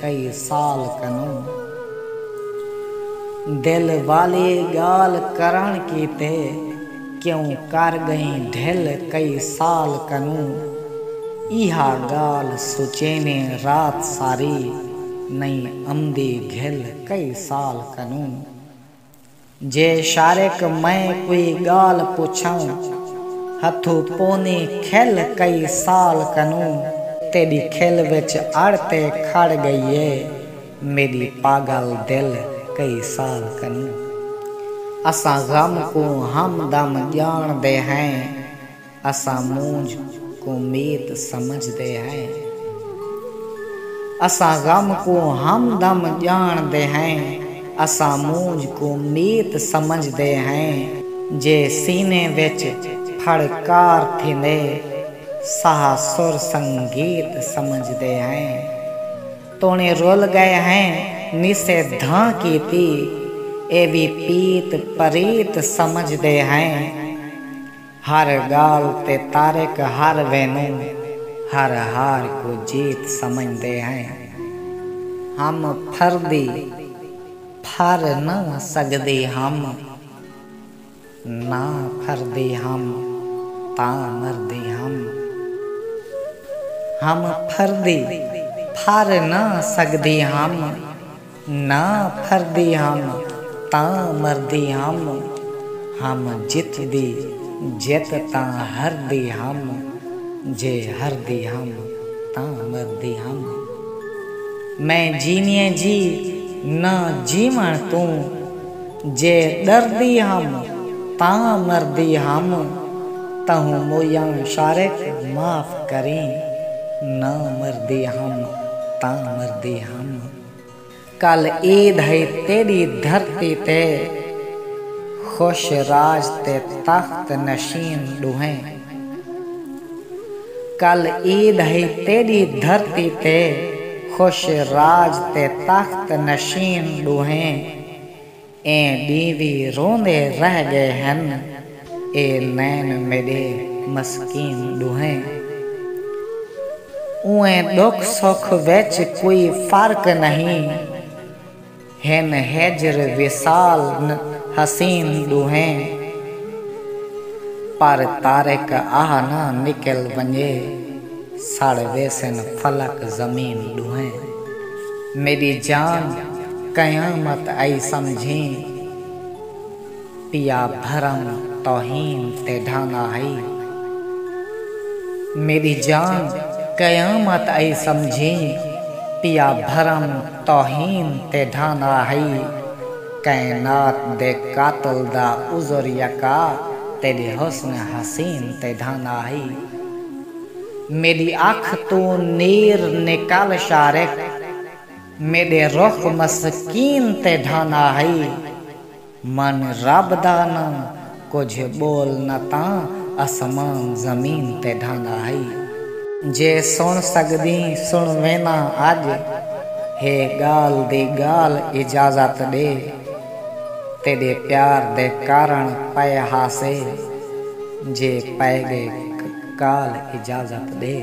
کئی سال کنوں دل والی گال کرنڑ کیتے کیوں کر گئیں ڈھل کئی سال کنوں ایہا گال سوچینے رات ساری نئیں امدی گھل کئی سال کنوں۔ جے شارق میں کوئی ڳالھ پچھاؤں ہتھو پونی کھل کئی سال کنوں تیݙی کھل وچ اڑ تے کھڑ ڳئی اے میݙی پاڳل دل کئی سال کنوں اساں غم کوں ہم دم ڄاݨدے ہیں اساں مونجھ کوں میت سمجھدے ہیں۔ اساں غم کوں ہم دم ڄاݨدے ہیں۔ اساں مونجھ کوں میت سمجھدے ہیں۔ جے سینے وچ پھڑ کار تھیندے۔ ساہ سر سنگیت سمجھدے ہیں۔ توݨی رل ڳئے ہیں میسے دھاں کیتی۔ ایہ وی پیت پریت سمجھدے ہیں۔ ہر ڳالھ تے طارق ہر وینوں ہر ہار کوں جیت سمجھدے ہیں۔ ہم پھردی پھر نہ سڳدی ہم نہ پھردی ہم تاں مردی ہم۔ ہم پھردی پھر نہ سڳدی ہم۔ نہ پھردی ہم تاں مردی ہم۔ ہم جت دی جت تاں ہردی ہم۔ جے ہردی ہم تاں مردی ہم۔ میں جینیے جی نہ جیوݨ توں۔ جے ݙردی ہم تاں مردی ہم۔ تہوں مویاں شارق معاف کریں۔ نہ مردی ہم تاں مردی ہم۔ کل عید ہئی تیݙی دھرتی تے خوش راج تے تخت نشین ݙوہیں کل عید ہئی تیݙی دھرتی تے خوش راج تے تخت نشین ݙوہیں۔ ایں ݙینہہ وی روندے رہ ڳئے ہن اے نین میݙے مسکین ݙوہیں۔ اونئیں ݙکھ سکھ وچ کوئی فرق نئیں ہن ہجر وصال ن حسین ݙوہیں۔ پر طارق آہ نہ نکل ونڄے۔ سڑ ویسن فلک زمین ݙوہیں۔ میݙی جان قیامت آئی سمجھیں۔ پیا بھرم توہین تے ڈھانگا ہئی۔ میݙی جان قیامت آئی سمجھیں۔ پیا بھرم توہین تے ڈھانگا ہئی۔ کائنات دے قاتل دا عذر یکا تیݙے حسن حسین تے ڈھانگا ہئی۔ میݙی اکھ توں نیر نکل شارق میݙے رخ مسکین تے ڈھانا ہئی من رب دا نہ کجھ ٻول نہ تاں اسمان زمین تے ڈھانا ہئی جے سݨ سڳدیں سݨ وینداں اڄ ہے ڳالھ دی ڳالھ اجازت ݙے تیݙے پیار دے کارݨ پئے ہاسے جے پئے ڳئے کال اجازت ݙے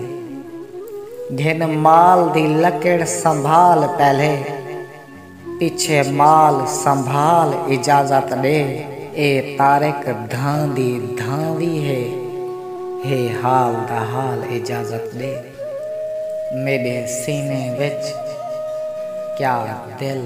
گھن مال دی لکڑ سنبھال پہلے پچھے مال سنبھال اجازت ݙے اے طارق دھاں دی دھاں وی ہے ہے حال دا حال اجازت ݙے میݙے سینے وچ کیا دل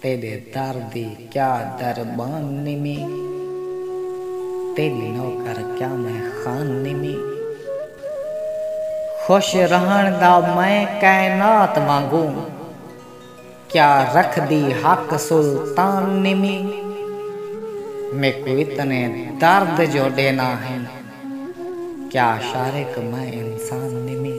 تیݙے در دی کیا دربان نمی تیݙی نوکر کیا میں خان نمی خوش رہݨ دا میں کائنات وانگوں کیا رکھدی حق سلطان نمی میکوں اتنے درد جو ݙینا ہیں کیا شارق میں انسان نمی۔